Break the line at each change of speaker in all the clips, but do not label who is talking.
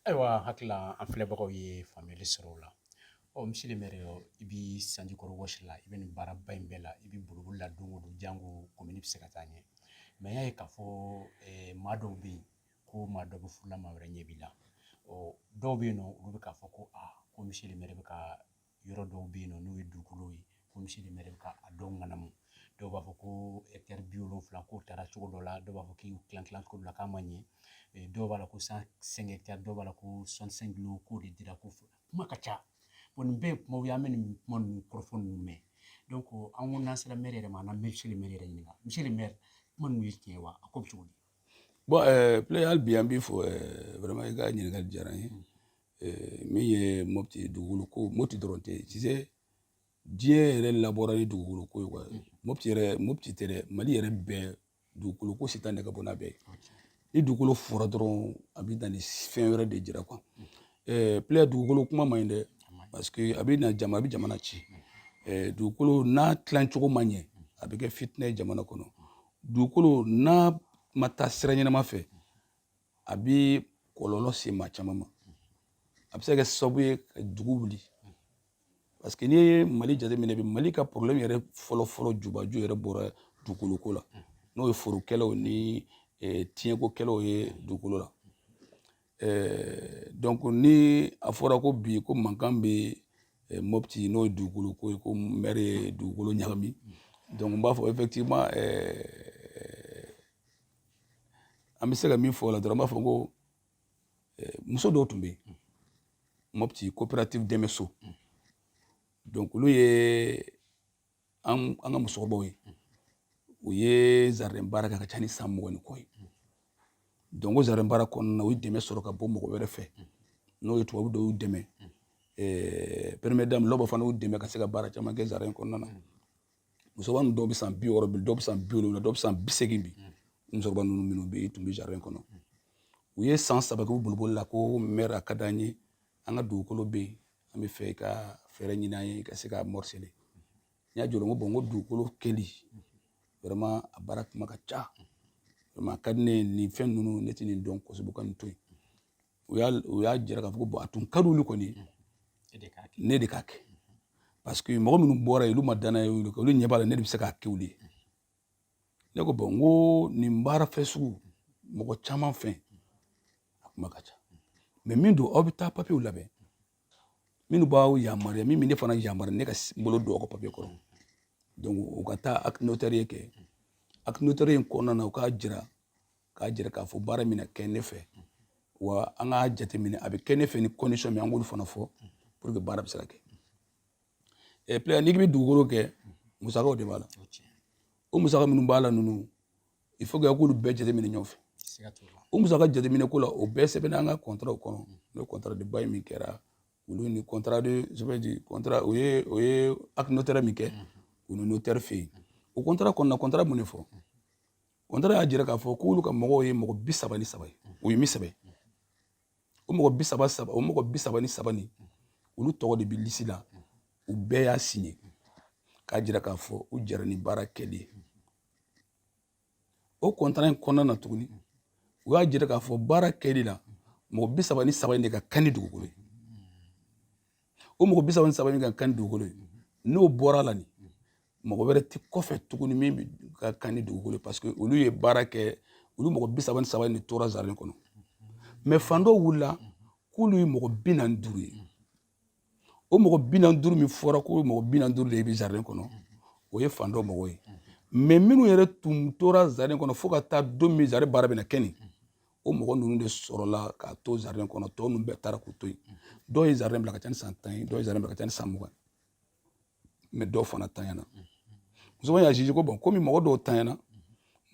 Ayiwa hakili la an filɛbagaw ye faamuyali sɔrɔ o la ɔ monsieur le maire i bi sanji kɔrɔ wɔsi la i bɛ nin baaraba in bɛɛ la i bɛ boliboli la don o don jango komini bɛ se ka taa ɲɛ mais n y'a ye k'a fɔ eh, maa dɔw bɛ yen ko maa dɔ bɛ furu la maa wɛrɛ ɲɛ b'i la ɔ dɔw bɛ yen nɔ olu bɛ k'a fɔ ko a ko monsieur le maire bɛ ka yɔrɔ dɔw bɛ yen nɔ n'o ye dugukolo ye ko monsieur le maire ka a dɔw ŋanamu dɔw b'a fɔ ko ɛkitɛri bi wolonfila k'o taara cogo dɔ la dɔw b'a fɔ k'u tilan tilan cogo dɔ la k'a ma ɲɛ dɔw b'a la ko cent cinq hectares dɔw b'a la ko cent cinq lots k'o de dira ko fɔ kuma ka ca bon nin bɛɛ ye kumaw ye an bɛ nin kuma ninnu kɔrɔfɔ ninnu mɛn donc an ko n'an sera mɛri yɛrɛ ma an na monsieur le maire yɛrɛ ɲininka monsieur le maire kuma ninnu ye tiɲɛ ye wa a ko bɛ cogo di bon ɛɛ
Pléa hali bi an b'i fo ɛɛ vraiment i ka ɲininkali diyara n ye min ye mɔti dugukolo ko mɔti dɔrɔn tɛ sisan diɲɛ yɛrɛ labɔra ni dugukolo ko ye quoi mɔti yɛrɛ mɔti tɛ dɛ mali yɛrɛ bɛɛ dugukolo ko si tɛ nɛgɛ bɔ n'a bɛɛ ni dugukolo fɔra dɔrɔn a bɛ na ni fɛn wɛrɛ de jira quoi Pléa dugukolo kuma man ɲi dɛ parce que a bɛ na jama a bɛ jamana ci dugukolo n'a tilacogo ma ɲɛ a bɛ kɛ fitinɛ ye jamana kɔnɔ dugukolo n'a ma taa sira ɲɛnama fɛ a bɛ kɔlɔlɔ se maa caman ma a bɛ se ka kɛ sababu ye ka dugu wuli parce que n'i ye mali jateminɛ bi mali ka problème yɛrɛ fɔlɔfɔlɔ jubaju yɛrɛ bɔra dugukoloko la n'o ye forokɛlaw ni eh, tiɲɛkokɛlaw ye dugukolo la eh, donc ni a fɔra ko bi ko mankan bɛ eh, mopti n'o ye dugukolo ko ye ko mɛri ye dugukolo ɲagami donc n b'a fɔ effectivement an bɛ se ka min fɔ o la dɔrɔn an b'a fɔ ko eh, muso dɔw tun bɛ yen mopti coopérative dɛmɛso donc olu ye an an ka musokɔrɔbaw ye u ye jardin baara kɛ ka ca ni san mugan ni kɔ ye donc o jardin baara kɔnɔna na u ye dɛmɛ sɔrɔ ka bɔ mɔgɔ wɛrɛ fɛ n'o ye tubabu dɔw y'u dɛmɛ eh, première dame lɔbɔ fana y'u dɛmɛ ka se ka baara caman kɛ jardin kɔnɔna na musokɔrɔba ninnu dɔw bɛ san bi wɔɔrɔ bi dɔw bɛ san bi wolonwula dɔw bɛ san bi seegin bi musokɔrɔba ninnu minnu bɛ yen tun bɛ jardin kɔnɔ u ye san saba kɛ u boliboli la ko mɛri a ka d'an ye an ka dugukolo bɛ yen an bɛ fɛ ka fɛɛrɛ ɲini an ye ka se ka morceler n y'a jɔ n ko bon n ko dugukolo kɛli vraiment a baara kuma ka ca vraiment a ka di ne ye nin fɛn ninnu ne tɛ nin dɔn kosɛbɛ ka nin to yen u y'a u y'a jira k'a fɔ ko a tun ka di olu kɔni ne de k'a kɛ parce que mɔgɔ minnu bɔra yen olu ma danaya olu kan olu ɲɛ b'a la ne de bɛ se k'a kɛ olu ye ne ko bon n ko nin baara fɛn sugu mɔgɔ caman fɛ a kuma ka ca mais min don aw bɛ taa papiyew labɛn minnu b'aw yamaruya min bɛ ne fana yamaruya ne ka bolo don aw ka papiye kɔrɔ donc u ka taa acte notarié kɛ acte notarié in kɔnɔna na u k'a jira k'a jira k'a fɔ baara min na kɛ ne fɛ wa an k'a jateminɛ a bɛ kɛ ne fɛ ni condition min an k'olu fana fɔ pour que baara bɛ se ka kɛ ɛ player n'i bɛ dugukolo kɛ musakaw de b'a la o musaka minnu b'a la ninnu il faut que a k'olu bɛɛ jateminɛ ɲɔgɔn fɛ o musaka jateminɛ ko la o bɛɛ sɛbɛnna an ka contrat kɔnɔ n'o contrat de bail min kɛra olu ni contrat de je veux dire contrat o ye o ye acte notaire min kɛ u ni notaire fɛ yen o contrat kɔnɔna contrat mun de fɔ kɔntara y'a jira k'a fɔ k'olu ka mɔgɔw ye mɔgɔ bi saba ni saba ye o ye min sɛbɛn o mɔgɔ bi saba ni saba nin olu tɔgɔ de bɛ lisi la u bɛɛ y'a siɲɛ k'a jira k'a fɔ u jɛra ni baara kɛli ye o kɔntara in kɔnɔna na tuguni u y'a jira k'a fɔ baara kɛli la mɔgɔ bi saba ni saba in de ka kan ni dugukolo ye o mɔgɔ bi saba ni saba min ka kan ni dugukolo ye n'o bɔra la nin mɔgɔ wɛrɛ tɛ kɔfɛ tuguni min bɛ ka kan ni dugukolo ye parce que olu ye baara kɛ olu mɔgɔ bi saba ni saba de tora jardin kɔnɔ mais fan dɔw wulila k'olu ye mɔgɔ bi naani duuru ye o mɔgɔ bi naani duuru min fɔra ko mɔgɔ bi naani duuru de bɛ jardin kɔnɔ o ye fan dɔ mɔgɔ ye mais minnu yɛrɛ tun tora jardin kɔnɔ fo ka taa don min jardin baara bɛna kɛ nin o mɔgɔ ninnu de sɔrɔla k'a to jardin kɔnɔ tɔ ninnu bɛɛ taara k'u to yen dɔw ye jardin bila ka ca ni san tan ye dɔw ye jardin bila ka ca ni san mugan mais dɔw fana tanyana musoman y'a jugé ko bon komi mɔgɔ dɔw tanyana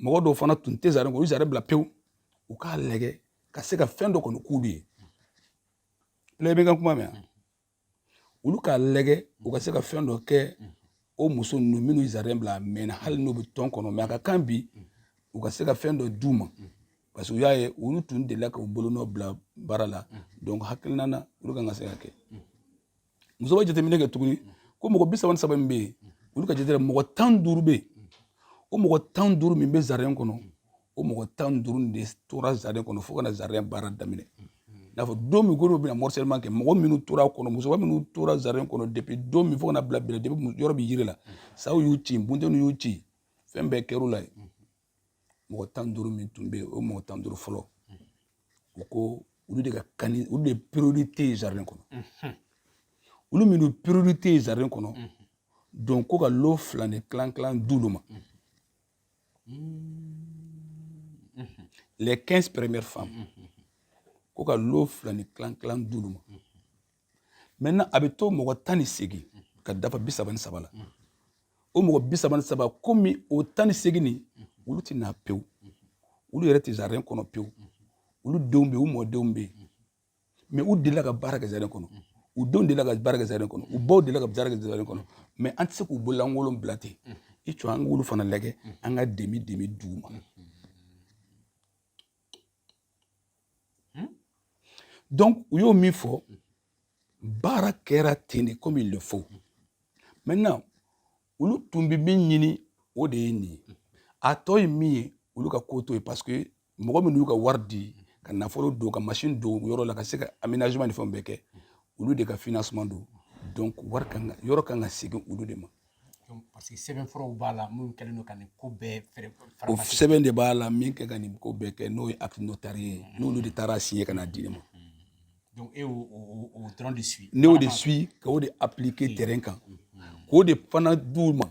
mɔgɔ dɔw fana tun tɛ jardin kɔnɔ u jardin bila pewu u k'a lajɛ ka se ka fɛn dɔ kɔni k'olu ye player bɛ ka kuma mɛn olu k'a lajɛ u ka se ka fɛn dɔ kɛ o muso ninnu minnu jardin bila a mɛnna hali n'u bɛ tɔn kɔnɔ mais a ka kan bi u ka se ka fɛn dɔ d'u ma parce que u y'a ye olu tun delila k'u bolonɔ bila baara la donc hakilina na olu kan ka se ka kɛ muso bɛ jateminɛ kɛ tuguni ko mɔgɔ bi saba ni saba min bɛ yen olu ka jateminɛ mɔgɔ tan duuru bɛ yen o mɔgɔ tan duuru min bɛ jardin kɔnɔ o mɔgɔ tan ni duuru de tora jardin kɔnɔ fo ka na jardin baara daminɛ n'a fɔ don min ko bɛna morcellement kɛ mɔgɔ minnu tora kɔnɔ musokɔrɔba minnu tora jardin kɔnɔ depuis don min fo ka na bila bila depuis yɔrɔ bɛ yiri la saw y'u cin bunteniw y'u cin fɛn bɛɛ kɛr'u la yen mɔgɔ tan duuru min tun bɛ yen o mɔgɔ tan duuru fɔlɔ u ko olu de ka kan ni olu de priorité ye jardin kɔnɔ olu minnu priorité ye jardin kɔnɔ donc ko ka lo fila ni kilan kilan d'olu ma les 15 premières femmes ko ka lo fila ni kilan kilan d'olu ma maintenant a bɛ to mɔgɔ tan ni seegin ka dafa bi saba ni saba la o mɔgɔ bi saba ni saba komi o tan ni seegin nin olu tɛ na pewu olu yɛrɛ tɛ jardin kɔnɔ pewu olu denw bɛ yen u mɔdenw bɛ yen mɛ u delila ka baara kɛ jardin kɔnɔ u denw delila ka baara kɛ jardin kɔnɔ u baw delila ka baara kɛ jardin kɔnɔ mɛ an tɛ se k'u bololankolon bila ten i cɔ an k'olu fana lajɛ an ka demi demi d'u ma donc u y'o min fɔ baara kɛra ten de comme il le faut maintenant olu tun bɛ min ɲini o de ye nin ye a tɔ ye min ye olu ka ko to ye parce que mɔgɔ minnu y'u ka wari di ka nafolo don ka masini don yɔrɔ la ka se ka aménagement ni fɛnw bɛɛ kɛ olu de ka financement don donc wari kan ka yɔrɔ kan ka segin olu de ma parce
que sɛbɛnfuraw b'a la minnu kɛlen don ka nin ko bɛɛ fɛrɛ o sɛbɛn
de b'a la min kɛ ka nin ko bɛɛ kɛ n'o ye acte notarié ye n'olu de taara a signer ka na di ne ma Donc, ne
y'o, o, o dɔrɔn de suivre. N y'o de suivre,
k'o de appliquer mm. terrain kan. K'o de fana d'u ma.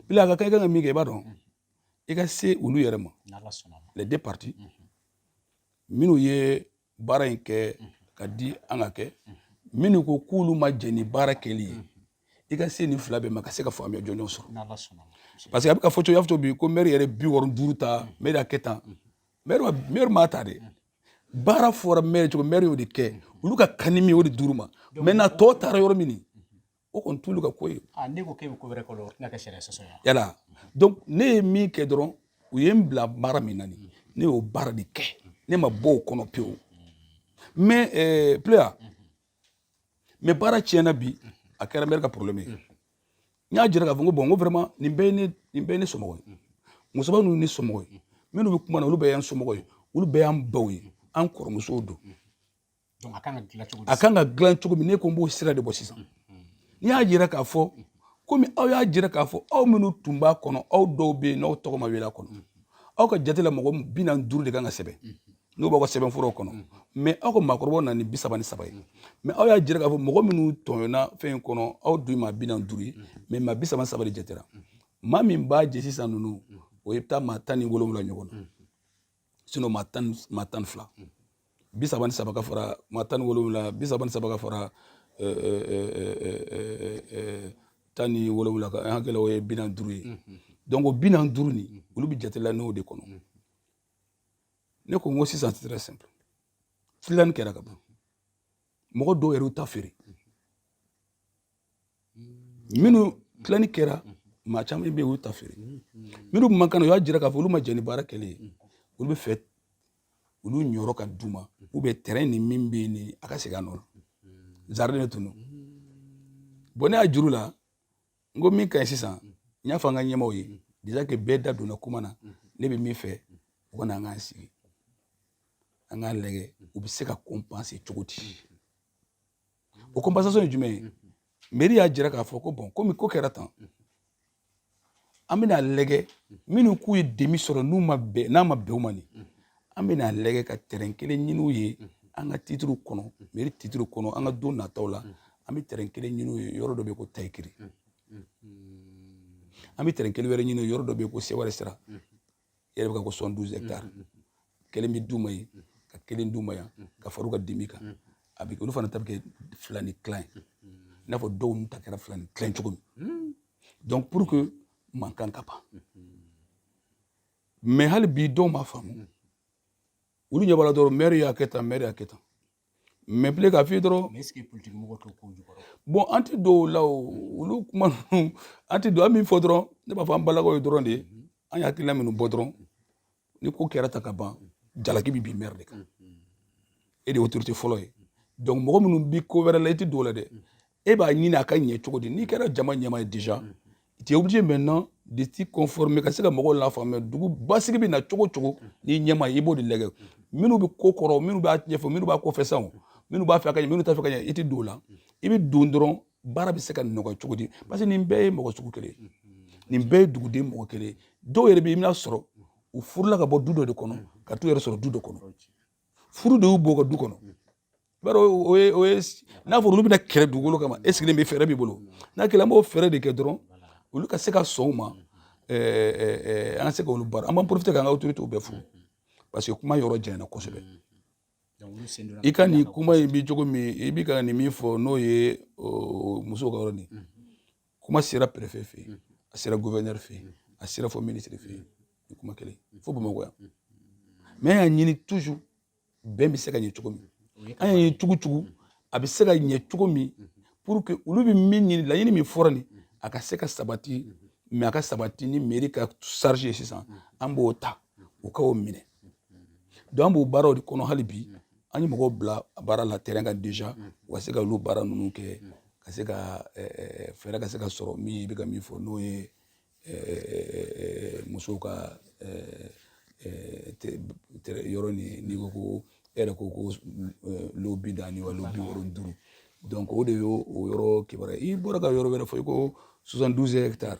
Bila a ka kan i ka min kɛ i b'a dɔn i ka se olu yɛrɛ ma. Les deux parties. Mm-hmm. Minnu ye baara in kɛ mm-hmm. ka di an ka kɛ mm-hmm. minnu ko k'olu ma jɛn ni baara kɛli ye i ka se nin fila bɛɛ ma ka se ka faamuya jɔnjɔn sɔrɔ parce que a bɛ ka fɔ cogo y'a fɔ cogo bi ko mɛri yɛrɛ bi wɔɔrɔ duuru ta mɛri y'a kɛ tan mɛri m'a ta dɛ baara fɔra mɛri cogo mɛri y'o de kɛ olu ka kan ni min o de d'u ma maintenant a tɔ taara yɔrɔ min o kɔni t'olu ka ko ye ah, ne ko k'e bɛ ko wɛrɛ
kɛ o tɛna kɛ sariya sɔsɔ ye yala
donc ne ye min kɛ dɔrɔn u ye n bila baara min na nin ne y'o baara de kɛ ne ma bɔ o kɔnɔ pewu mɛ eh, pleya mɛ baara tiɲɛna bi a kɛra mɛri ka problème ye n y'a jira k'a fɔ ko bɔn n ko vraiment nin bɛɛ ye ne nin bɛɛ ye ne somɔgɔ ye musoba ninnu ye ne somɔgɔ ye minnu bɛ kuma na olu bɛɛ y'an somɔgɔ ye olu bɛɛ y'an baw ye an kɔrɔmusow don
a kan ka dilan cogo
min ne ko n b'o sira de bɔ sisan n'i y'a jira k'a fɔ komi aw y'a jira k'a fɔ aw minnu tun b'a kɔnɔ aw dɔw bɛ yen n'aw tɔgɔ ma wele a kɔnɔ aw ka jate la mɔgɔ bi naani duuru de kan ka sɛbɛn n'o b'aw ka sɛbɛnfuraw kɔnɔ mɛ aw ka maakɔrɔbaw nana ni bi saba ni saba ye mɛ aw y'a jira k'a fɔ mɔgɔ minnu tɔɲɔna fɛn in kɔnɔ aw dun ye maa bi naani duuru ye mɛ maa bi saba ni saba de jatera maa min b'a jɛ sisan ninnu o bɛ taa maa tan ni wolonwula ɲɔgɔn na sinon maa tan maa tan ni fila bi saba ni saba ka fara maa tan ni wolonwula bi saba ni saba ka fara tan ni wolonwula kan n hakili la o ye bi naani duuru ye donc o bi naani duuru nin olu bɛ jatela n'o de kɔnɔ ne ko n ko sisan c'est très simple tilani kɛra ka ban mɔgɔ dɔw yɛrɛ y'u ta feere minnu tilani kɛra maa caman bɛ yen u y'u ta feere minnu tun man kan na u y'a jira k'a fɔ olu ma jɛn ni baara kɛlen ye olu b'a fɛ olu niyɔrɔ ka d'u ma ou bien terrain nin min bɛ yen ni a ka segin a nɔ la jardin de tun don bɔn ne y'a jira u la n ko min ka ɲi sisan n y'a fɔ an ka ɲɛmaaw ye déjà que bɛɛ da donna kuma na ne bɛ min fɛ u ka na an k'an sigi an k'a lajɛ u bɛ se ka compenser cogo di o compensation ye jumɛn ye mairie y'a jira k'a fɔ ko bon komi ko kɛra tan an bɛna lajɛ minnu k'u ye demi sɔrɔ n'a ma bɛn u ma nin an bɛna a lajɛ ka terrain kelen ɲini u ye an ka titre kɔnɔ mairie titre kɔnɔ an ka don nataw la an bɛ terrain kelen ɲini u ye yɔrɔ dɔ bɛ yen ko Tayikiri an bɛ terrain kelen wɛrɛ ɲini yɔrɔ dɔ bɛ yen ko Seware sira yɛrɛ bɛ ka ko 72 hectares kelen bɛ d'u ma yen ka kelen d'u ma yan ka fara u ka demi kan a bɛ olu fana ta bɛ kɛ fila ni tilan ye i n'a fɔ dɔw ta kɛra fila ni tilan cogo min donc pour que mankan ka ban mais hali bi dɔw ma faamu mm. olu ɲɛ b'a la dɔrɔn maire y'a kɛ tan maire y'a kɛ tan mais bile k'a f'i ye dɔrɔn
bon an tɛ don
o la o olu kuma ninnu an tɛ don an min fɔ dɔrɔn ne b'a fɔ an balakaw ye dɔrɔn de mm-hmm. an ye hakilila minnu bɔ dɔrɔn ni ko kɛra tan ka ban jalaki bi bin maire de kan mm-hmm. e de ye autorité fɔlɔ ye donc mɔgɔ minnu bi ko wɛrɛ la i tɛ don o la dɛ e b'a ɲini a ka ɲɛ cogo di n'i kɛra jama ɲɛmaa ye déjà tu es obligé maintenant de t'y conformer ka se ka mɔgɔw lafaamuya dugu basigi bɛ na cogo cogo n'i ɲɛmaa ye i b'o de lajɛ minnu bɛ ko kɔrɔ minnu b'a ɲɛfɛ minnu b'a kɔfɛ sanw minnu b'a fɛ ka ɲɛ minnu t'a fɛ ka ɲɛ i tɛ don o la i bɛ don dɔrɔn baara bɛ se ka nɔgɔya cogo di parce que nin bɛɛ ye mɔgɔ sugu kelen ye nin bɛɛ ye duguden mɔgɔ kelen ye dɔw yɛrɛ bɛ i bɛna sɔrɔ u furula ka bɔ du dɔ de kɔnɔ ka t'u yɛrɛ sɔrɔ du dɔ kɔnɔ furu de y'u bɔ ka du kɔnɔ bari o ye n'a fɔra olu bɛna kɛlɛ dugukolo kama e sigilen bɛ fɛɛrɛ b'i bolo n'a kɛla an b'o fɛɛrɛ de kɛ dɔrɔn olu ka se ka sɔn o ma an ka se ka olu baara an b'an profiter k'an ka autoritéw bɛɛ fo parce que kuma yɔrɔ janyana kosɛbɛ i ka nin kuma in bi cogo min i bi ka nin min fɔ n'o ye musow ka yɔrɔ nin kuma sera préfet fɛ yen a sera gouverneur fɛ yen a sera fo ministre fɛ yen nin kuma kelen fo Bamakɔ yan mais an y'a ɲini toujours bɛn bɛ se ka ɲɛ cogo min an y'a ɲini cogo cogo a bɛ se ka ɲɛ cogo min pour que olu bɛ min ɲini laɲini min fɔra nin a ka se ka sabati mais a ka sabati ni mairie ka charge ye sisan an b'o ta u ka o minɛ donc an b'o baaraw de kɔnɔ hali bi an ye mɔgɔw bila baara la terrain kan déjà u ka se ka olu baara ninnu kɛ ka se ka fɛɛrɛ ka se ka sɔrɔ min i bɛ ka min fɔ n'o ye musow ka yɔrɔ nin n'i ko ko e yɛrɛ ko ko lot bi naani wa lot bi wɔɔrɔ ni duuru donc o de y'o o yɔrɔ kibaruya i bɔra ka yɔrɔ wɛrɛ fɔ i ko 72 hectares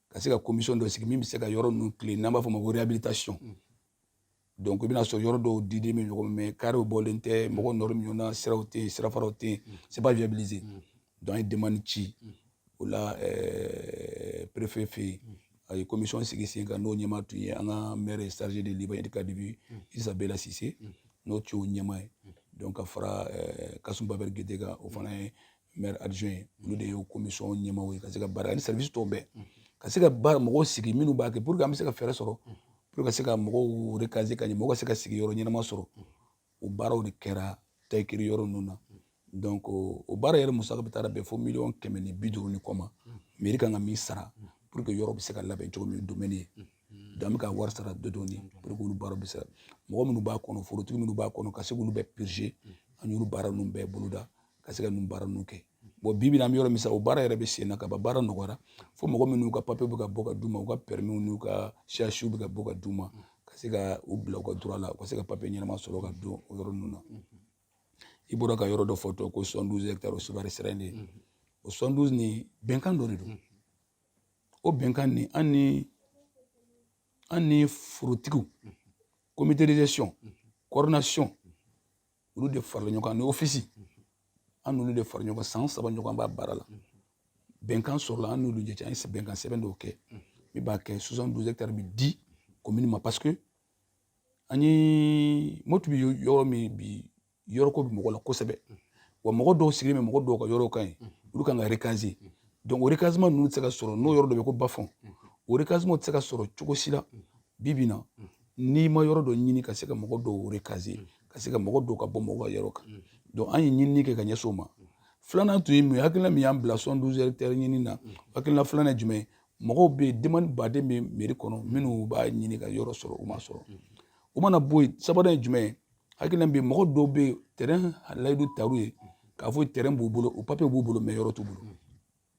ka se ka commission dɔ sigi min bɛ se ka yɔrɔ ninnu tilen n'an b'a fɔ o ma ko réhabilitation mm. donc i bɛna sɔrɔ yɔrɔ dɔw diden bɛ ɲɔgɔn mais carréw bɔlen tɛ mm. mɔgɔ nɔrɔ ɲɔgɔn na siraw tɛ yen sirafaraw tɛ yen mm. c'est pas viabilisé donc an ye demande ci o la euh, préfet fɛ yen a ye commission sigi sen kan n'o ɲɛmaa tun ye an ka maire chargé de l'urbanisme et du cadre de vie isa bela sise n'o tun y'o ɲɛmaa ye donc ka fara euh, kasum babɛri gede kan o fana ye maire adjoint ye olu de ye commission ɲɛmaaw ye ka se ka baara ani service tɔw bɛɛ ka se ka baara mɔgɔw sigi minnu b'a kɛ pour que an bɛ se ka fɛɛrɛ sɔrɔ pour ka se ka mɔgɔw recaser ka ɲɛ mɔgɔw ka se ka sigi yɔrɔ ɲɛnama sɔrɔ o baaraw de kɛra tayikiri yɔrɔ ninnu na donc o baara yɛrɛ musaka bɛɛ taara bɛn fo miliyɔn kɛmɛ ni bi duuru ni kɔ ma mairie kan ka min sara pour que yɔrɔ bɛ se ka labɛn cogo min domaine ye donc an bɛ ka wari sara dɔɔni pour que olu baaraw bɛ se mɔgɔ minnu b'a kɔnɔ forotigi minnu b'a kɔnɔ ka se k'olu bɛɛ purger an y'olu baara ninnu bɛɛ boloda ka se ka ninnu baara ninnu kɛ bon bi bi in na an bɛ yɔrɔ min sisan o baara yɛrɛ bɛ sen na ka ban baara nɔgɔyara fo mɔgɔ minnu ka papiye bɛ ka bɔ ka d'u ma u ka pɛrɛmiw n'u ka CUHw bɛ ka bɔ ka d'u ma ka se ka u bila u ka droit la u ka se ka papiye ɲɛnama sɔrɔ ka don o yɔrɔ ninnu na i bɔra ka yɔrɔ dɔ fɔ tɔ ko 72 hectares o sevare sira in de o 72 nin bɛnkan dɔ de don o bɛnkan nin an ni an ni forotigiw comité de gestion coordination olu de farala ɲɔgɔn kan ni ofisi an n'olu de fara ɲɔgɔn san saba ɲɔgɔn b'a baara la bɛnkan sɔrɔla an n'olu cɛ an ye bɛnkan sɛbɛn dɔw kɛ min b'a kɛ soixante douze hectares bi di commune ma parce que an ye mɔti bi yɔrɔ min bi yɔrɔ ko bi mɔgɔ la kosɛbɛ wa mɔgɔ dɔw sigilen bɛ mɔgɔ dɔw ka yɔrɔw kan yen olu kan ka recaser donc o recasement ninnu tɛ se ka sɔrɔ n'o yɔrɔ dɔ bɛ ko bas-fond o recasement tɛ se ka sɔrɔ cogo si la bi bi na n'i ma yɔrɔ dɔ ɲini ka se ka mɔgɔ dɔw recaser ka se ka mɔgɔ dɔw ka bɔ mɔgɔ ka yɔrɔ kan donc an ye ɲinini kɛ ka ɲɛsin o ma filanan tun ye mun ye hakilina min y'an bila soixante douze hectares ɲini na hakilina filanan ye jumɛn ye mɔgɔw bɛ yen demande ba de bɛ mairie kɔnɔ minnu b'a ɲini ka yɔrɔ sɔrɔ u ma sɔrɔ o mana bɔ yen sabanan ye jumɛn ye hakilina bɛ yen mɔgɔ dɔw bɛ yen tɛrɛn layidu tar'u ye k'a fɔ tɛrɛn b'u bolo o papiye b'u bolo mais yɔrɔ t'u bolo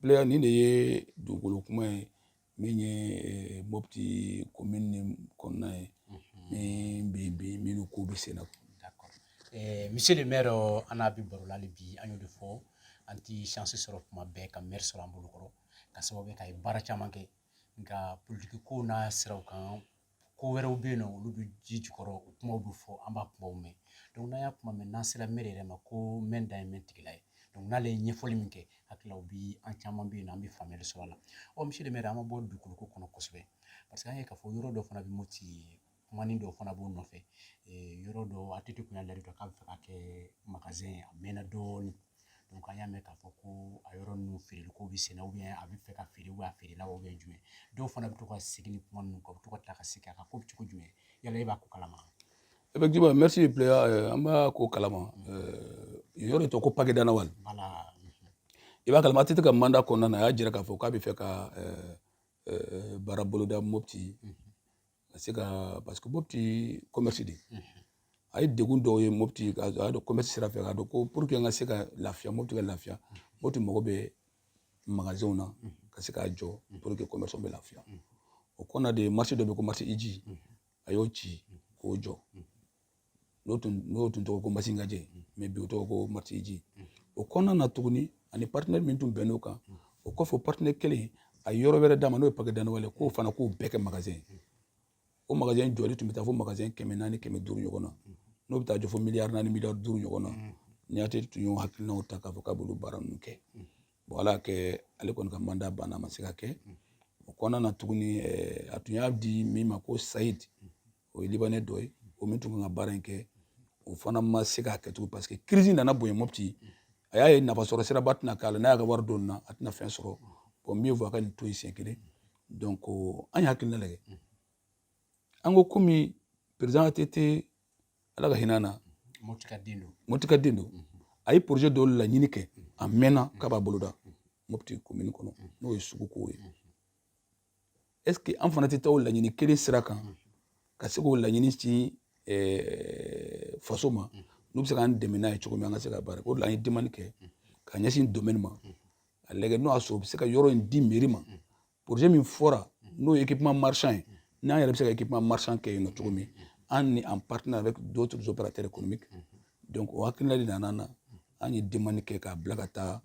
Player nin de ye dugukolo kuma ye min ye eh, mɔpti komini kɔnɔna ye min bɛ minnu ko bɛ sen na eh,
monsieur le maire an n'a bi baro la hali bi an y'o de fɔ an ti chance sɔrɔ kuma bɛɛ ka maire sɔrɔ an bolo kɔrɔ k'a sababu kɛ k'a ye baara caman kɛ nka politiki ko n'a siraw kan ko wɛrɛw bɛ yen n'olu bɛ ji jukɔrɔ o kumaw bɛ fɔ an b'a kumaw mɛn n'an y'a kuma mɛn n'an sera mɛri yɛrɛ ma ko mɛn dan ye mɛn tigi la ye n'ale ye ɲɛfɔli min kɛ hakili la bi an caman bɛ yen n'an bɛ faamuyali sɔrɔ a la ɔ monsieur le maire an ma bɔ dugukolo ko kɔnɔ kosɛbɛ parce que an ye k'a fɔ yɔrɔ dɔ fana bɛ moti kumanin dɔ fana b'o nɔfɛ yɔrɔ dɔ ATT kun y'a layidu k'a b'a fɛ ka kɛ ye a mɛnna dɔɔnin donc an y'a mɛn k'a fɔ ko a yɔrɔ ninnu feereli ko bɛ senna ou bien a bɛ fɛ ka feere ou bien a feerela wa ou bien jumɛn dɔw fana bɛ to ka segin ni kuma ninnu kan u bɛ to ka tila ka segin a kan ko bɛ cogo jumɛn yala e b'a ko kalama effectivement
merci playa euh, an b'a ko kalama euh, yɔrɔ tɔgɔ ko pake danawal
i
b'a kalama att ka mandat kɔnɔna na a y'a jira k'a fɔ k'a bɛ fɛ ka euh, baara boloda mopti ka se ka parce que mopti commerce de a ye degun dɔw ye mopti a y'a dɔn commerce sira fɛ k'a dɔn ko pour que n ka se ka lafiya mopti ka lafiya mopti mago bɛ magasinw na ka se k'a jɔ pour que commerce bɛ lafiya o kɔnɔna de marché dɔ bɛ ko marché hidji a y'o ci k'o jɔ n'o tun n'o tun tɔgɔ ko masinkaje mais bi o tɔgɔ ko marché hidji o kɔnɔna na tuguni ani partenaire min tun bɛnn'o kan o kɔfɛ partenaire kelen a ye yɔrɔ wɛrɛ d'a ma n'o ye pake danawal ye k'o fana k'o bɛɛ kɛ magasin o magasin jɔli tun bɛ taa fo magasin kɛmɛ naani kɛmɛ duuru ɲɔgɔn na n'o bɛ taa jɔ fo miliyari naani miliyari duuru ɲɔgɔn na ni att tun y'o hakilinaw ta k'a fɔ k'a b'olu baara ninnu kɛ bon ala kɛ ale kɔni ka mandat banna a ma se ka kɛ o kɔnɔna na tuguni a tun y'a di min ma ko sayidi o ye libanais dɔ ye o min tun kan ka baara in kɛ o fana ma se k'a kɛ tugun parce que crise nana bonya mopti a y'a ye nafasɔrɔ siraba tɛna k'a la n'a y'a ka wari don na a tɛna fɛn sɔrɔ bon mieux vaut a ka nin to yen siɲɛ kelen donc an ye hakilina lajɛ an ko komi président att ala ka hinɛ na mopti ka den
don mopti ka
den don a ye projet dɔw laɲini kɛ a mɛnna k'a b'a boloda mopti commune kɔnɔ n'o ye suguko ye est-ce que an fana tɛ taa o laɲini kelen sira kan ka se k'o laɲini ci eh, faso ma n'u bɛ se k'an dɛmɛ n'a ye cogo min an ka se ka baara kɛ o de la an ye demande kɛ ka ɲɛsin domaine ma a lajɛ n'o y'a sɔrɔ u bɛ se ka yɔrɔ in di mairie ma projet min fɔra n'o ye équipement marchand ye n'an yɛrɛ bɛ se ka équipement marchand kɛ yen nɔ cogo min an ni en partenariat avec d'autres opérateurs économiques donc o hakilina de nana an na an ye demande kɛ k'a bila ka taa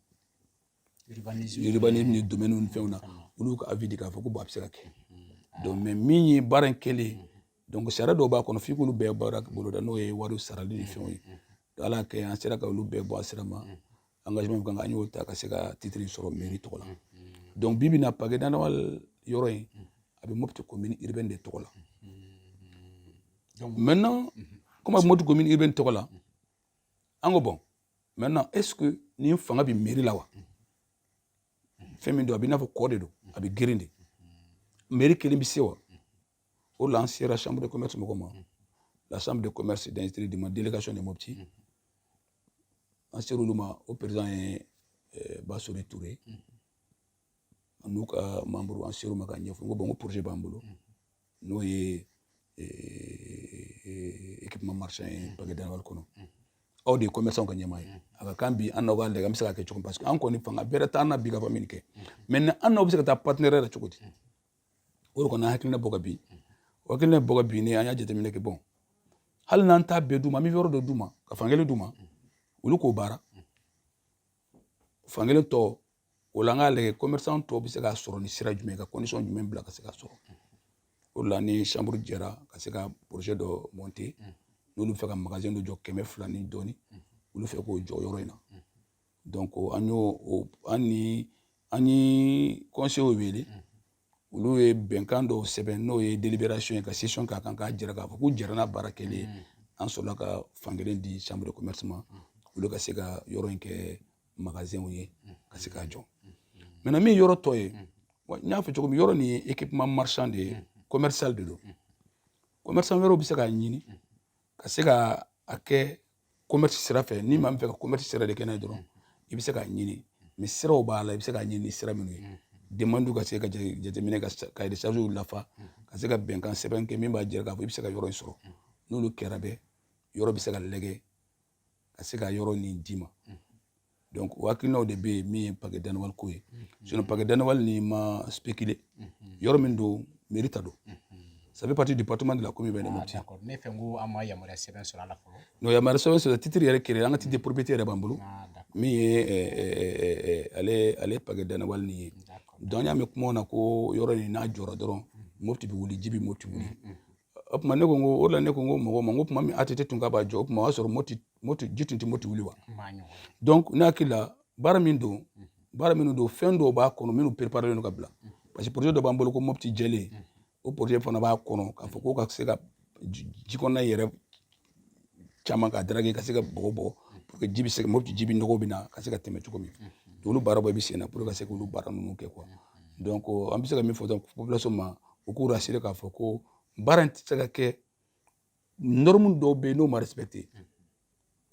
urbanisme ni domaine ni fɛnw na olu ka avis di k'a fɔ ko a bɛ se ka kɛ donc mais min ye baara in kɛlen donc sariya dɔw b'a kɔnɔ f'i k'olu bɛɛ baara boloda n'o ye wariw sarali ni fɛnw ye ala kɛ an sera ka olu bɛɛ bɔ a sira ma engagement min kan an y'o ta ka se ka titre sɔrɔ mairie tɔgɔ la donc bi bi in na pake danawal yɔrɔ in a bɛ mopti commune urbaine de tɔgɔ la maintenant comme a bɛ mopti commune urbaine tɔgɔ la an ko bon maintenant est ce que nin fanga bɛ mairie la wa fɛn min don a bɛ i n'a fɔ kɔ de don a bɛ geren de mairie kelen bɛ se wa o la an sera chambre de commerce mɔgɔ ma la chambre de commerce d'industrie du mali délégation de mopti an ser'olu ma o président ye basore ture n'u ka membre an ser'u ma ka ɲɛfɔ n ko bon ko projet b'an bolo n'o ye équipement marchand ye pagué danawal kɔnɔ aw de ye commerçant ka ɲɛmaa ye a ka kan bi an n'aw ka lajɛ an bɛ se ka kɛ cogo parce que an kɔni fanga bɛrɛ t'an na bi ka fɔ min kɛ maintenant an n'aw bɛ se ka taa partenariat la cogo di o de kɔni an hakilina bɔ ka bin o hakilina bɔ ka bin ne an y'a jateminɛ kɛ bon hali n'an t'a bɛɛ d'u ma an bɛ yɔrɔ dɔ d'u ma ka fankelen d'u ma olu k'o baara fankelen tɔ o la an k'a lajɛ commerçant tɔw bɛ se k'a sɔrɔ ni sira jumɛn ka condition jumɛn bila ka se k'a sɔrɔ o la ni chambre jɛra ka se ka projet dɔ monter n'olu bɛ fɛ ka magasin dɔ jɔ kɛmɛ fila ni dɔɔni olu fɛ k'o jɔ yɔrɔ in na donc an y'o an ni an ye conseil wele olu ye bɛnkan dɔw sɛbɛn n'o ye délibération ye ka session k'a kan k'a jira k'a fɔ k'u jɛra n'a baara kɛlen mm. an sɔrɔla ka fankelen di chambre de commerce ma mm. olu ka se ka yɔrɔ in kɛ magasinw ye mm. ka se k'a jɔ maintenant min yɔrɔ tɔ ye n y'a fɔ cogo min yɔrɔ nin ye équipement marchand de ye commercial de don commerçant wɛrɛw bɛ se k'a ɲini ka se ka a kɛ commerce sira fɛ ni maa min fɛ ka commerce sira de kɛ n'a ye dɔrɔn i bɛ se k'a ɲini mais siraw b'a la i bɛ se k'a ɲini ni sira minnu ye demande ka se ka jateminɛ ka cahier de charge lafa ka se ka bɛnkan sɛbɛn kɛ min b'a jira k'a fɔ i bɛ se ka yɔrɔ in sɔrɔ n'olu kɛra bɛɛ yɔrɔ bɛ se ka lajɛ ka se ka yɔrɔ nin d'i ma donc o hakilinaw de bɛ yen min ye pagué danawal ko ye sinon pagué danawal nin ma spéculer yɔrɔ min don mairie ta don ça fait partie du département de la commune de mopti ne fɛn ko an ma
yamaruya sɛbɛn sɔrɔ a la fɔlɔ non yamaruya sɛbɛn
sɔrɔ titre yɛrɛ créé an ka titre propriété yɛrɛ b'an bolo min ye ale ale pagué danawal nin ye donc an y'a mɛn kumaw na ko yɔrɔ in n'a jɔra dɔrɔn mopti bɛ wuli ji bɛ mopti wuli o tuma ne ko ko o la ne ko ko mɔgɔw ma ko tuma min ATT tun ka b'a jɔ o tuma o y'a sɔrɔ mopti mopti ji tun tɛ mopti wuli wa donc ne hakili la baara min don baara minnu don fɛn dɔw b'a kɔnɔ minnu préparé don ka bila parce que projet dɔ b'an bolo ko mopti jɛlen o projet fana b'a kɔnɔ k'a fɔ ko ka se ka ji kɔnɔna yɛrɛ caman ka draguer ka se ka bɔgɔ bɔ pour que ji bɛ se ka mopti ji bɛ nɔgɔ bɛ na ka se ka tɛmɛ cogo min olu baara bɛɛ bɛ sen na pour que ka se k'olu baara ninnu kɛ quoi donc an bɛ se ka min fɔ dɔrɔn population ma u k'u rassurer k'a fɔ ko baara in tɛ se ka kɛ norme dɔw bɛ yen n'o ma respecter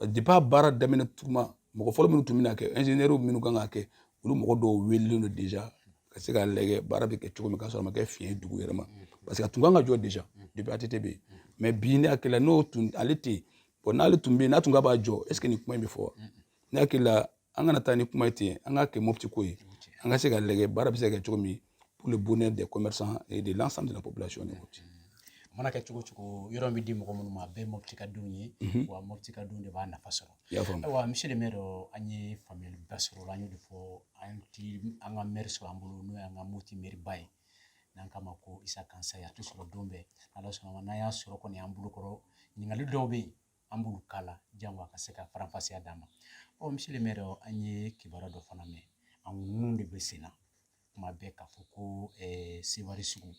depuis a baara daminɛ tuma mɔgɔ fɔlɔ minnu tun bɛna kɛ ingénieur minnu kan ka kɛ olu mɔgɔ dɔw wele don déjà ka se ka lajɛ baara bɛ kɛ cogo min ka sɔrɔ a ma kɛ fiɲɛ ye dugu yɛrɛ ma parce que a tun kan ka jɔ déjà depuis ATT bɛ yen mais bi ne hakili la n'o tun ale tɛ yen bon n'ale tun bɛ yen n'a tun ka b'a jɔ est ce que nin kuma in bɛ fɔ wa ne hakili la an kana taa ni kuma ye ten an k'a kɛ mopti ko ye an ka se ka lajɛ baara bɛ se ka kɛ cogo min pour le bonheur des commerçants et de l'ensemble de la population de Mopti. A mana kɛ
cogo o cogo yɔrɔ bɛ di mɔgɔ minnu ma a bɛɛ mɔpti ka denw ye mhm. wa mɔpti ka denw de b'a nafa sɔrɔ ayiwa monsieur le maire an ye faamuyali ba sɔrɔ la an y'o de fɔ an ti an ka mɛri sɔrɔ an bolo n'o y'an ka moti mɛriba ye n'an k'a ma ko Isa Kansaye a tɛ sɔrɔ don bɛɛ ala sɔnna n'an y'a sɔrɔ kɔni an bolokɔrɔ ɲininkali dɔw bɛ yen an b'olu k'a la jango a ka se ka faranfasiya d'an ma ɔ monsieur le maire an ye kibaruya dɔ fana mɛn an ninnu de bɛ sen na kuma bɛ ka fɔ ko sewari sugu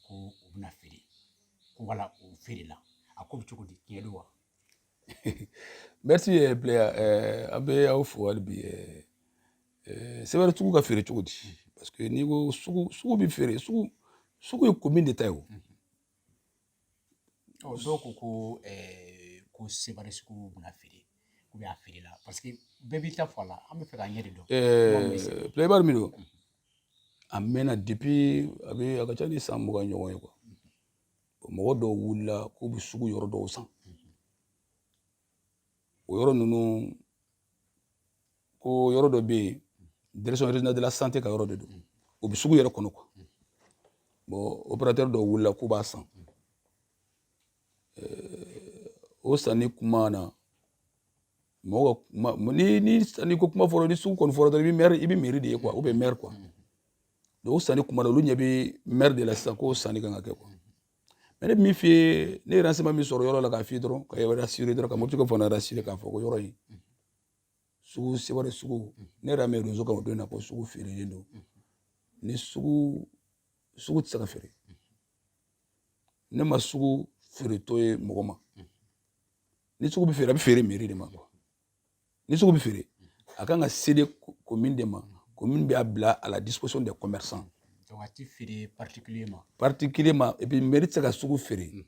ko o bɛna feere ko wala o feerela a ko bɛ cogo di tiɲɛ don wa
merci eh, Plea eh, an bɛ aw fo hali bi eh, eh, sewari sugu ka feere cogo di parce que n'i ko sugu sugu bɛ feere sugu sugu ye commune de ta ye o mm -hmm.
Ɔ dɔw ko ko ɛɛ ko sewari sugu bɛna feere ou bien a feerela parce que bɛɛ b'i ta fɔ a la an b'a fɛ k'a ɲɛ de dɔn. Ɛɛ Plea
baara min don a mɛnna depuis a bɛ a ka ca ni san mugan ɲɔgɔn ye quoi mɔgɔ dɔw wulila k'u bɛ sugu yɔrɔ dɔw san o yɔrɔ ninnu ko yɔrɔ dɔ bɛ yen direction régionale de la santé ka yɔrɔ de don o bɛ sugu yɛrɛ kɔnɔ quoi bon opérateur dɔw wulila k'u b'a san o sanni kuma na mɔgɔ ka kuma ni ni sanni ko kuma fɔra ni sugu kɔni fɔra dɔrɔn i bɛ maire i bɛ mairie de ye quoi ou bien maire quoi donc o sanni kuma na olu ɲɛ bɛ maire de la sisan k'o sanni kan ka kɛ quoi mais ne bɛ min f'i ye ne ye renseignement min sɔrɔ yɔrɔ la k'a f'i dɔrɔn k'i rassurer dɔrɔn ka motikaw fana rassurer k'a fɔ ko yɔrɔ in sugu sewari sugu ne y'a mɛn réseau kan o don na ko sugu feerelen don ni sugu sugu tɛ se ka feere ne ma sugu feeretɔ ye mɔgɔ ma ni sugu bɛ feere a bɛ feere mairie de ma quoi ni sugu bɛ feere a kan ka céder commune de ma commune b'a bila a la disposition des commerçants a ti feere
particulier ma particulier
ma et puis mairie tɛ se ka sugu feere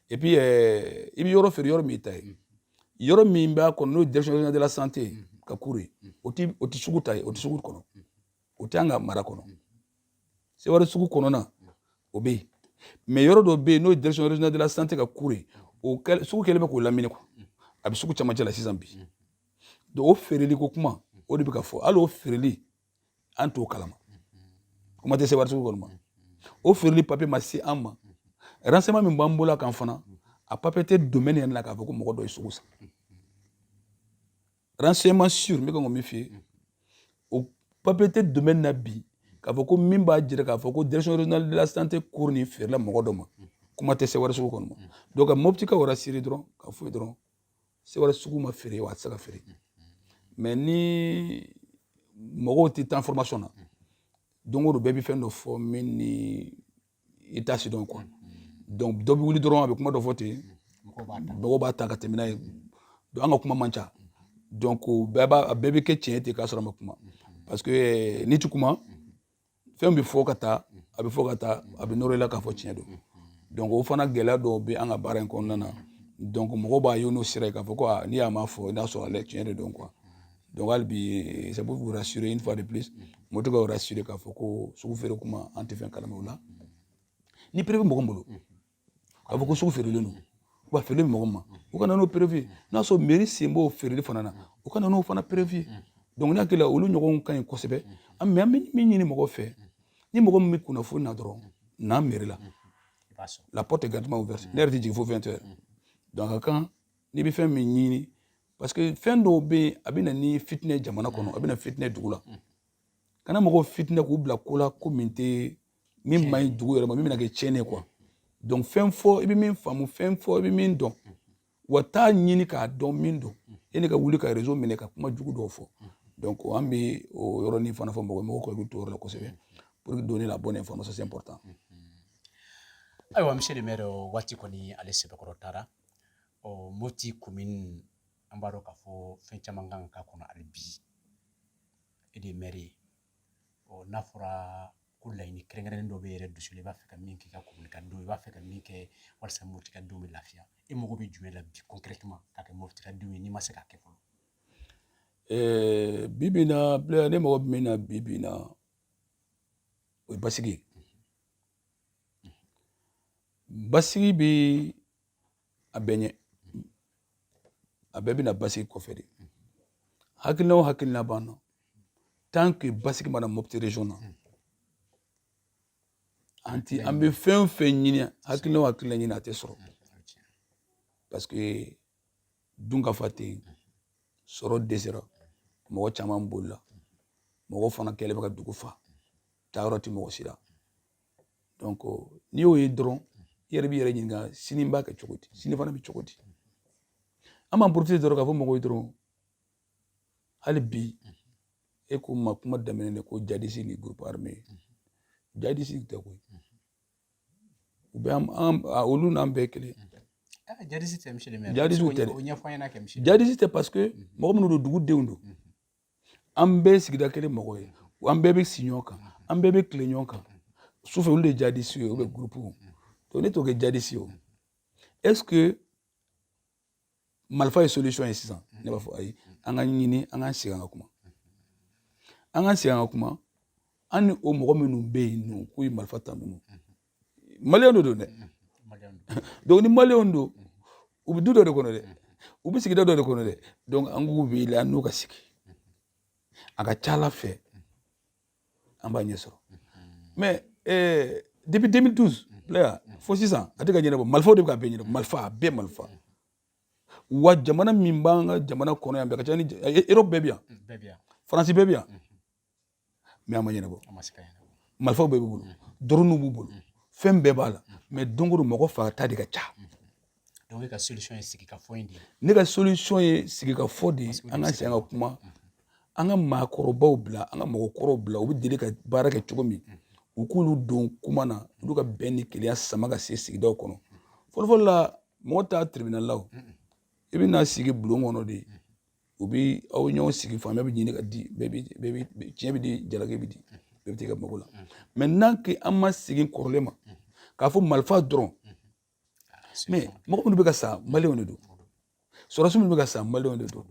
et puis eh, i bɛ yɔrɔ feere yɔrɔ min ta ye yɔrɔ min b'a kɔnɔ n'o direction de la santé ka cour ye o ti o ti sugu ta ye o ti sugu kɔnɔ o tɛ an ka mara kɔnɔ sewari sugu kɔnɔna o bɛ yen mais yɔrɔ dɔ bɛ yen n'o ye direction régionale de la santé ka cour ye o sugu kɛlen bɛ k'o lamini quoi a bɛ sugu camancɛ la sisan bi donc o feereli ko kuma o de bɛ ka fɔ hali o feereli an t'o kalama comme a tɛ sewari sugu kɔnɔna o feereli papiye ma se an ma renseignement min b'an bolo a kan fana a papiye tɛ domaine yɛrɛ la k'a fɔ ko mɔgɔ dɔ ye sugu san renseignement sur n bɛ ka ko min f'i ye o papier tɛ domaine na bi k'a fɔ ko min b'a jira k'a fɔ ko direction régionale de la santé cour nin feerela mɔgɔ dɔ ma kuma tɛ sewari sugu kɔnɔ ma donc ka moptikaw rassurer dɔrɔn k'a fɔ u ye dɔrɔn sewari sugu ma feere wa a tɛ se ka feere mais ni mɔgɔw tɛ taa information na don o don bɛɛ bɛ fɛn dɔ fɔ min ni i t'a si dɔn quoi donc dɔ bɛ wuli dɔrɔn a bɛ kuma dɔ fɔ ten mɔgɔw b'a ta ka tɛmɛ n'a ye an ka kuma man ca donc bɛɛ b'a a bɛɛ bɛ kɛ tiɲɛ ten k'a sɔrɔ a ma kuma parce que eh, n'i ti kuma fɛn bɛ fɔ ka taa a bɛ fɔ ka taa a bɛ nɔrɔ i la k'a fɔ tiɲɛ don donc o fana gɛlɛya dɔw bɛ an ka baara in kɔnɔna na donc mɔgɔw b'a ye n'o sira ye k'a fɔ ko aa ni a ma fɔ i n'a sɔrɔ ale tiɲɛ de don quoi donc hali bi c'est pour vous rassurer une fois de plus n bɛ to k'aw rassurer k'a fɔ ko sugu feere kuma an tɛ fɛn kalama o la ni preuve mɔgɔ min bolo k'a fɔ ko sugu feerelen don wa feerelen bɛ mɔgɔ min ma u ka na n'o preuve ye n'a sɔrɔ mairie sen b'o feereli fana na u ka na n'o fana preuve ye donc ne hakili la olu ɲɔgɔnw ka ɲi kosɛbɛ an mɛ an bɛ min ɲini mɔgɔ fɛ ni mɔgɔ min bɛ kunnafoni na dɔrɔn na mairie la la porte est grandement ouverte ne yɛrɛ tɛ jigin fo 20 heures donc a ka kan n'i bɛ fɛn min ɲini parce que fɛn dɔw bɛ yen a bɛ na ni fitinɛ jamana kɔnɔ a bɛ na fitinɛ dugu la ka na mɔgɔw fitinɛ k'u bila ko la ko min tɛ min man ɲi dugu yɛrɛ ma min bɛna kɛ tiɲɛni ye quoi donc fɛn fɔ i bɛ min faamu fɛn fɔ i bɛ min dɔn wa taa ɲini k'a dɔn min don yani ka wuli ka réseau minɛ ka kuma jugu dɔw fɔ donc an bɛ o yɔrɔnin fana fɔ mɔgɔ mɔgɔw ka hakili to o yɔrɔ la kosɛbɛ pour que donner la bonne information c'est important
ayiwa monsieur le maire waati kɔni ale sɛbɛkɔrɔ taara ɔ mopti commune an b'a dɔn k'a fɔ fɛn caman kan ka k'a kɔnɔ hali bi e de ye maire ye ɔ n'a fɔra ko laɲini kɛrɛnkɛrɛnnen dɔ b'i yɛrɛ dusu la i b'a fɛ ka min k'i ka commune ka don i b'a fɛ ka min kɛ walasa mopti ka denw bɛ lafiya e mago bɛ jumɛn la bi concrètement k'a kɛ mopti ka denw ye n'i ma se k'a kɛ
fɔlɔ bi bi in na ne mago bɛ min na bi bi in na o ye basigi ye basigi bɛ a bɛɛ ɲɛ a bɛɛ bɛ na basigi kɔfɛ de hakilina o hakilina b'an na tant que basigi ma na mopti région na an ti an bɛ fɛn o fɛn ɲini hakilina o hakilina ɲini a tɛ sɔrɔ parce que dunkafa tɛ yen sɔrɔ dɛsɛra mɔgɔ caman bolila mɔgɔ fana kɛlen bɛ ka dugu fa taayɔrɔ tɛ mɔgɔ si la donc n'i y'o ye dɔrɔn i yɛrɛ b'i yɛrɛ ɲininka sini n b'a kɛ cogo di sini fana bɛ cogo di an b'an profiter dɔrɔn k'a fɔ mɔgɔw ye dɔrɔn hali bi e ko ma kuma daminɛ ne ko jadisi ni groupe armé jadisi tɛ koyi u bɛ an olu n'an bɛɛ kelen jadisi
tɛ monsieur jadisi tɛ dɛ jadisi tɛ parce que
mɔgɔ minnu don dugudenw don an bɛɛ ye sigida kelen mɔgɔ ye an bɛɛ bɛ si ɲɔgɔn kan an bɛɛ bɛ tile ɲɔgɔn kan sufɛ olu de ye jadisi ye o bɛ groupe donc ne t'o kɛ jadisi ye o est ce que marifa ye solution ye sisan ne b'a fɔ ayi an ka ɲini an ka segin an ka kuma an ka segin an ka kuma an ni o mɔgɔ minnu bɛ yen nɔ k'u ye marifa ta ninnu maliyɛn de don dɛ donc ni maliyɛnw don u bɛ du dɔ de kɔnɔ dɛ u bɛ sigida dɔ de kɔnɔ dɛ donc an k'u wele an n'u ka sigi a ka ca ala fɛ an b'a ɲɛ sɔrɔ mais eh, depuis 2012 la fo sisan a tɛ ka ɲɛnabɔ marifaw de bɛ ka bɛɛ ɲɛnabɔ marifa a bɛɛ marifa wa jamana min b'an ka jamana kɔnɔ yan bɛɛ ka ca ni erɔpu bɛɛ bɛ yan faransi bɛɛ bɛ yan mais a ma ɲɛnabɔ marifaw bɛɛ b'u bolo dronew b'u bolo fɛn bɛɛ b'a la mais don o don mɔgɔ fagata de ka ca ne
ka solution ye sigikafɔ de ye ne ka solution ye
sigikafɔ de ye an ka segin ka kuma an ka maakɔrɔbaw bila an ka mɔgɔkɔrɔw bila u bɛ deli ka baara kɛ cogo min u k'olu don kuma na olu ka bɛn ni kelenya sama ka se sigidaw kɔnɔ fɔlɔfɔlɔ la mɔgɔ t'a tribunal la i bɛna sigi bulon kɔnɔ de u bi aw ɲɔgɔn sigi faamuya bɛ ɲini ka di bɛɛ bɛ tiɲɛ bɛ di jalaki bɛ di bɛɛ bɛ t'i ka mago la mais tant que an ma segin kɔrɔlen ma k'a fɔ marifa dɔrɔn mais mɔgɔ minnu bɛ ka sa maliyɛnw de don sɔrɔdasi minnu bɛ ka sa maliyɛnw de don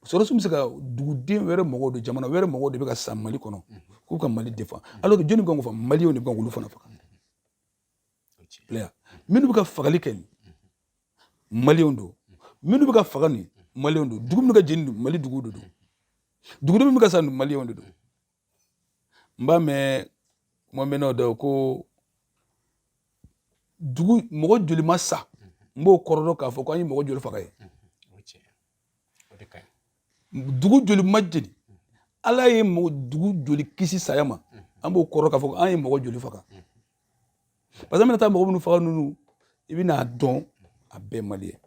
sɔrɔdasi bɛ se ka duguden wɛrɛ mɔgɔw de jamana wɛrɛ mɔgɔw de bɛ ka sa mali kɔnɔ k'u ka mali défendre alors que jɔnni kan k'o fɔ maliyɛnw de kan k'olu fana faga minnu bɛ ka fagali kɛ nin maliyɛnw don minnu bɛ ka faga nin maliyɛnw don dugu minnu ka jeni don mali duguw de don dugudenw minnu bɛ ka sa nin maliyɛnw de don n b'a mɛn kuma mɛnnaw da ko dugu mɔgɔ joli ma sa n b'o kɔrɔ dɔn k'a fɔ ko an ye mɔgɔ joli faga ye o de ka ɲi dugu joli ma jeni ala ye mɔgɔ dugu joli kisi saya ma an b'o kɔrɔ k'a fɔ an ye mɔgɔ joli faga parce que an bɛna taa mɔgɔ minnu faga ninnu i bɛna dɔn a bɛɛ maliyɛn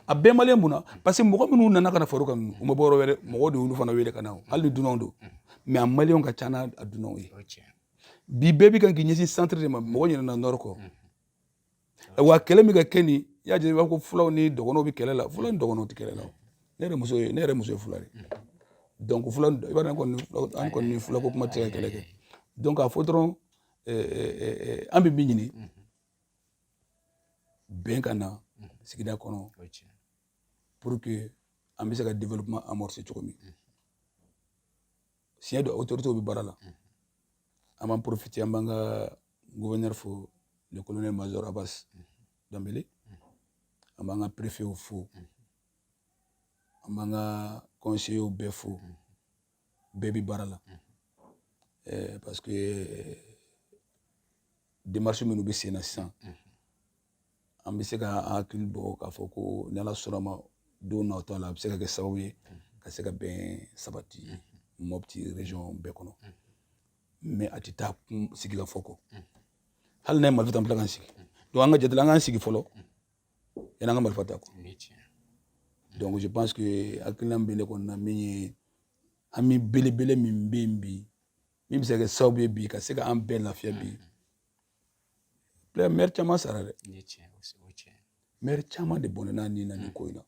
a bɛɛ maliyɛn mun na parce que mɔgɔ minnu nana ka na far'u kan ninnu u ma bɔ yɔrɔ wɛrɛ mɔgɔw de y'olu fana wele ka na hali ni dunanw don mais a maliyɛnw ka ca n'a dunanw ye bi bɛɛ bi kan k'i ɲɛsin centre de ma mɔgɔ ɲinɛna nord kɔ wa kɛlɛ min ka kɛ nin i y'a jate i b'a fɔ ko fulaw ni dɔgɔnɔw bɛ kɛlɛ la fulaw ni dɔgɔnɔw tɛ kɛlɛ la ne yɛrɛ muso ye ne yɛrɛ muso ye fula de ye donc fula i b'a dɔn kɔni an kɔni ni fulako kuma tɛ se ka kɛlɛ kɛ donc k'a fɔ dɔrɔn an bɛ min ɲini bɛn ka na sigida kɔnɔ pour que an bɛ se ka développement amorcer cogo min tiɲɛ don autorités bɛ baara la an b'a profiter an b'an ka gouverneur fo le colonel major abbas dembélé an b'an ka préfet fo an b'an ka conseillers bɛɛ fo bɛɛ bɛ baara la parce que démarche minnu bɛ sen na sisan an bɛ se ka hakili bɔ k'a fɔ ko ni ala sɔnna ma don nataw la a bɛ se ka kɛ sababu ye ka se ka bɛn sabati mɔpiti région bɛɛ kɔnɔ mais a tɛ taa sigi ka fɔ kɔ hali n'an ye marifa ta an bɛ tila k'an sigi donc an ka jate la an k'an sigi fɔlɔ yanni an ka marifa ta
kɔ donc
je pense que hakilina bɛ ne kɔnɔna min ye an bɛ belebele min bɛ yen bi min bɛ se ka kɛ sababu ye bi ka se ka an bɛɛ lafiya bi Bila mɛri caman sara
dɛ mɛri caman
de bɔnɛna a ni na nin ko in na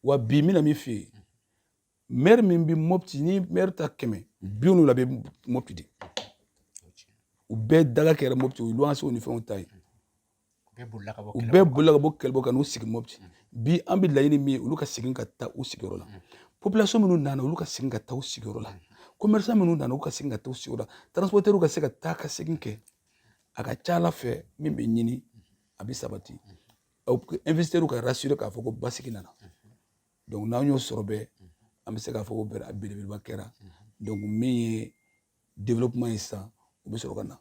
wa bi mina min fɛ yen mɛri min bɛ mɔpiti n'i mɛri ta kɛmɛ bi wolonwula bɛ mɔpiti de u bɛɛ daga kɛra mɔpiti u ye luwansew ni fɛnw ta ye u bɛɛ bolila ka bɔ kɛlɛ bolo ka n'u sigi mɔpiti bi an bɛ laɲini min ye olu ka segin ka taa u sigiyɔrɔ la population minnu nana olu ka segin ka taa u sigiyɔrɔ la commerçant minnu nana olu ka segin ka taa u sigiyɔrɔ la transporteurs ka se ka taa ka segin kɛ a ka ca a la fɛn min bɛ ɲini a bɛ sabati investisseurs ka rassurer k'a fɔ ko basigi nana donc n'an y'o sɔrɔ bɛɛ an bɛ se k'a fɔ ko belebeleba kɛra donc min ye développement ye sisan o bɛ sɔrɔ ka na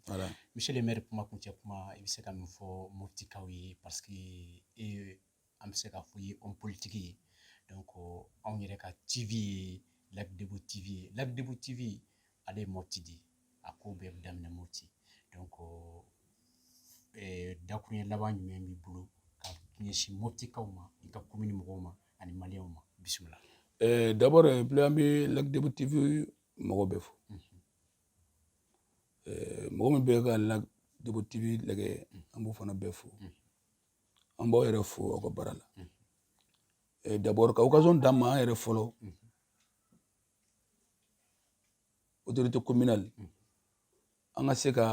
voilà monsieur le maire
kuma kuncɛ kuma i bɛ se ka min fɔ moptikaw ye parce que e an bɛ se k'a fɔ i ye homme politique ye donc anw yɛrɛ ka tv ye lac débo tv ye lac débo tv ale ye mopti de ye a ko bɛɛ bɛ daminɛ mopti donc dakuruɲɛ laban jumɛn b'i bolo ka ɲɛsin moptikaw ma i ka komini mɔgɔw ma ani maliyɛnw ma bisimila eh, d'abord
eh, ple an bɛ lac débo tv mɔgɔ bɛɛ fo eh, mɔgɔ min bɛ ka lac débo tv lajɛ an b'o fana bɛɛ fo an b'aw yɛrɛ fo aw ka baara la eh, d'abord ka occasion d'an ma an yɛrɛ fɔlɔ autorité communale an ka se ka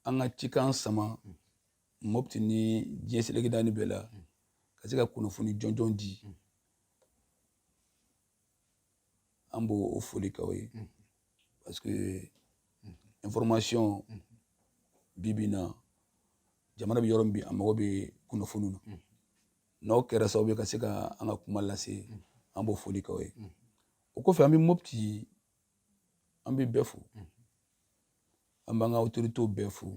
an ka cikan sama mɔpti ni diɲɛ seleke naani bɛɛ la ka se ka kunnafoni jɔnjɔn di an b'o foli k'aw ye parce que information bi bi na jamana bɛ yɔrɔ min bi a mago bɛ kunnafoniw na n'aw kɛra sababu ye ka se ka an ka kuma lase an b'o foli k'aw ye o kɔfɛ an bɛ mɔpti an bɛ bɛɛ fo an b'an ka otoritew bɛɛ fo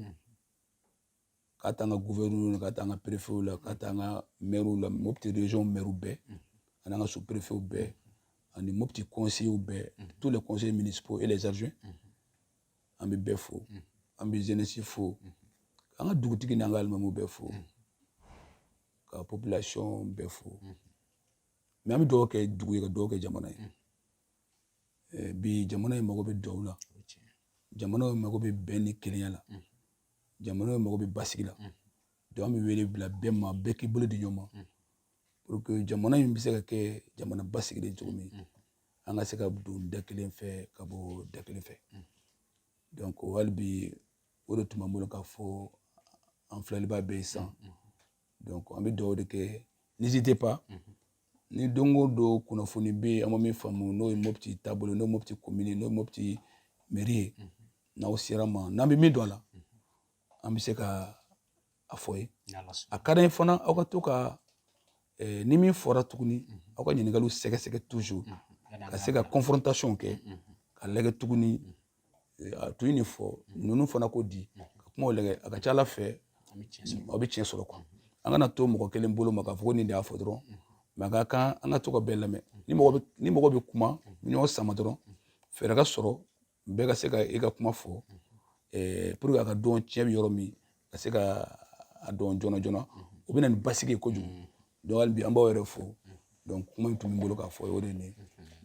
k'a ta an ka guvɛrinɛri la k'a ta an ka perefew la k'a ta an ka mɛriw la mopti region mɛriw bɛɛ ani an ka sous perefew bɛɛ ani mopti conseillers bɛɛ tous les conseillers municipaux et les adjoints an bɛ bɛɛ fo an bɛ jeunesse fo an ka dugutigi n'an ka alimamuw bɛɛ fo ka population bɛɛ fo mais an bɛ dugawu kɛ dugu ye ka dugawu kɛ jamana ye bi jamana in mago bɛ dugawu la jamana in mago bɛ bɛn ni kelenya la jamana in mago bɛ basigi la donc n bɛ wele bila bɛɛ ma bɛɛ k'i bolo di ɲɔgɔn ma pour que jamana in bɛ se ka kɛ jamana basigilen cogo min an ka se ka don da kelen fɛ ka bɔ da kelen fɛ donc hali bi o de tun b'an bolo k'a fɔ an filɛlibaa bɛɛ ye sisan donc an bɛ dugawu de kɛ n'hésitez pas mhm. ni don o don kunnafoni bɛ yen an ma min faamu n'o ye mopti taabolo n'o ye mopti komini n'o ye mopti meri ye mhm. n'aw sera an ma n'an bɛ min dɔn a la mhm. an bɛ se ka a fɔ aw ye a ka d'an ye fana aw ka to ka eh, ni min fɔra tuguni aw ka ɲininkaliw sɛgɛsɛgɛ toujours ka se ka confrontation kɛ ka lajɛ tuguni a tun ye nin fɔ ninnu fana ko di ka kumaw lagɛ a ka ca a la fɛ aw bɛ tiɲɛ sɔrɔ quoi an kana to mɔgɔ kelen bolo ma k'a fɔ ko nin de y'a fɔ dɔrɔn mais a ka kan an ka to ka bɛɛ lamɛn ni mɔgɔ bɛ kuma ɲɔgɔn sama dɔrɔn fɛɛrɛ ka sɔrɔ bɛɛ ka se ka i ka kuma fɔ pour que a ka dɔn tiɲɛ bɛ yɔrɔ min ka se ka a dɔn joona joona o bɛ na ni basigi ye kojugu donc hali bi an b'aw yɛrɛ fo donc kuma min tun bɛ n bolo k'a fɔ o de ye nin ye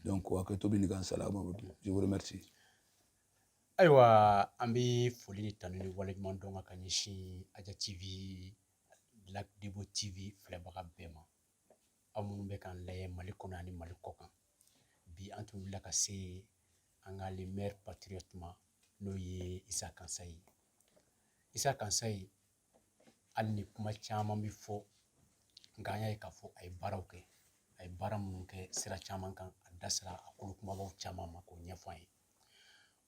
donc hakɛto bɛ nin kan salamu aleykum je vous remercie
ayiwa an bɛ foli ni tanu ni waleɲumandɔn ka ɲɛsin aja tv lac debo tv filɛbaga bɛɛ ma aw minnu bɛ k'an layɛ mali kɔnɔ ani mali kɔkan bi an tun wulila ka se an ka le maire patriote ma n'o ye isa kansaye isa kansaye hali ni kuma caman bɛ fɔ nka an y'a ye k'a fɔ a ye baaraw kɛ a ye baara minnu kɛ sira caman kan a da sera a kolo kumabaw caman ma k'o ɲɛfɔ an ye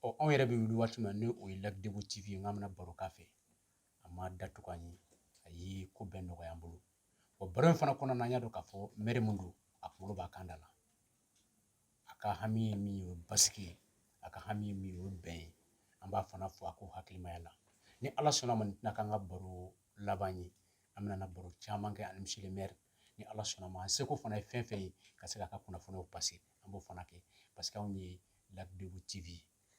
ɔ anw yɛrɛ bɛ wuli waati min na ni o ye lac debo tv ye n k'an bɛna baro k'a fɛ a ma da tugu an ye a ye ko bɛɛ nɔgɔya an bolo o baro in fana kɔnɔna na an y'a dɔn k'a fɔ mɛri min don a kunkolo b'a kan da la a ka hami ye min ye o ye basigi ye a ka hami ye min ye o ye bɛn ye an b'a fana fɔ a ko hakilimaya la ni ala sɔnna ma nin tɛna k'an ka baro laban ye an bɛna baro caman kɛ ani monsieur le maire ni ala sɔnna ma an seko fana ye fɛn fɛn ye ka se k'a ka kunnafoniw pase an b'o fana kɛ parce que anw ye lac débo tv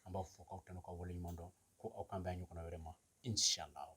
an b'aw fo k'aw tanu k'aw waleɲuman dɔn ko aw k'an bɛn ɲɔgɔnna wɛrɛ ma inshallah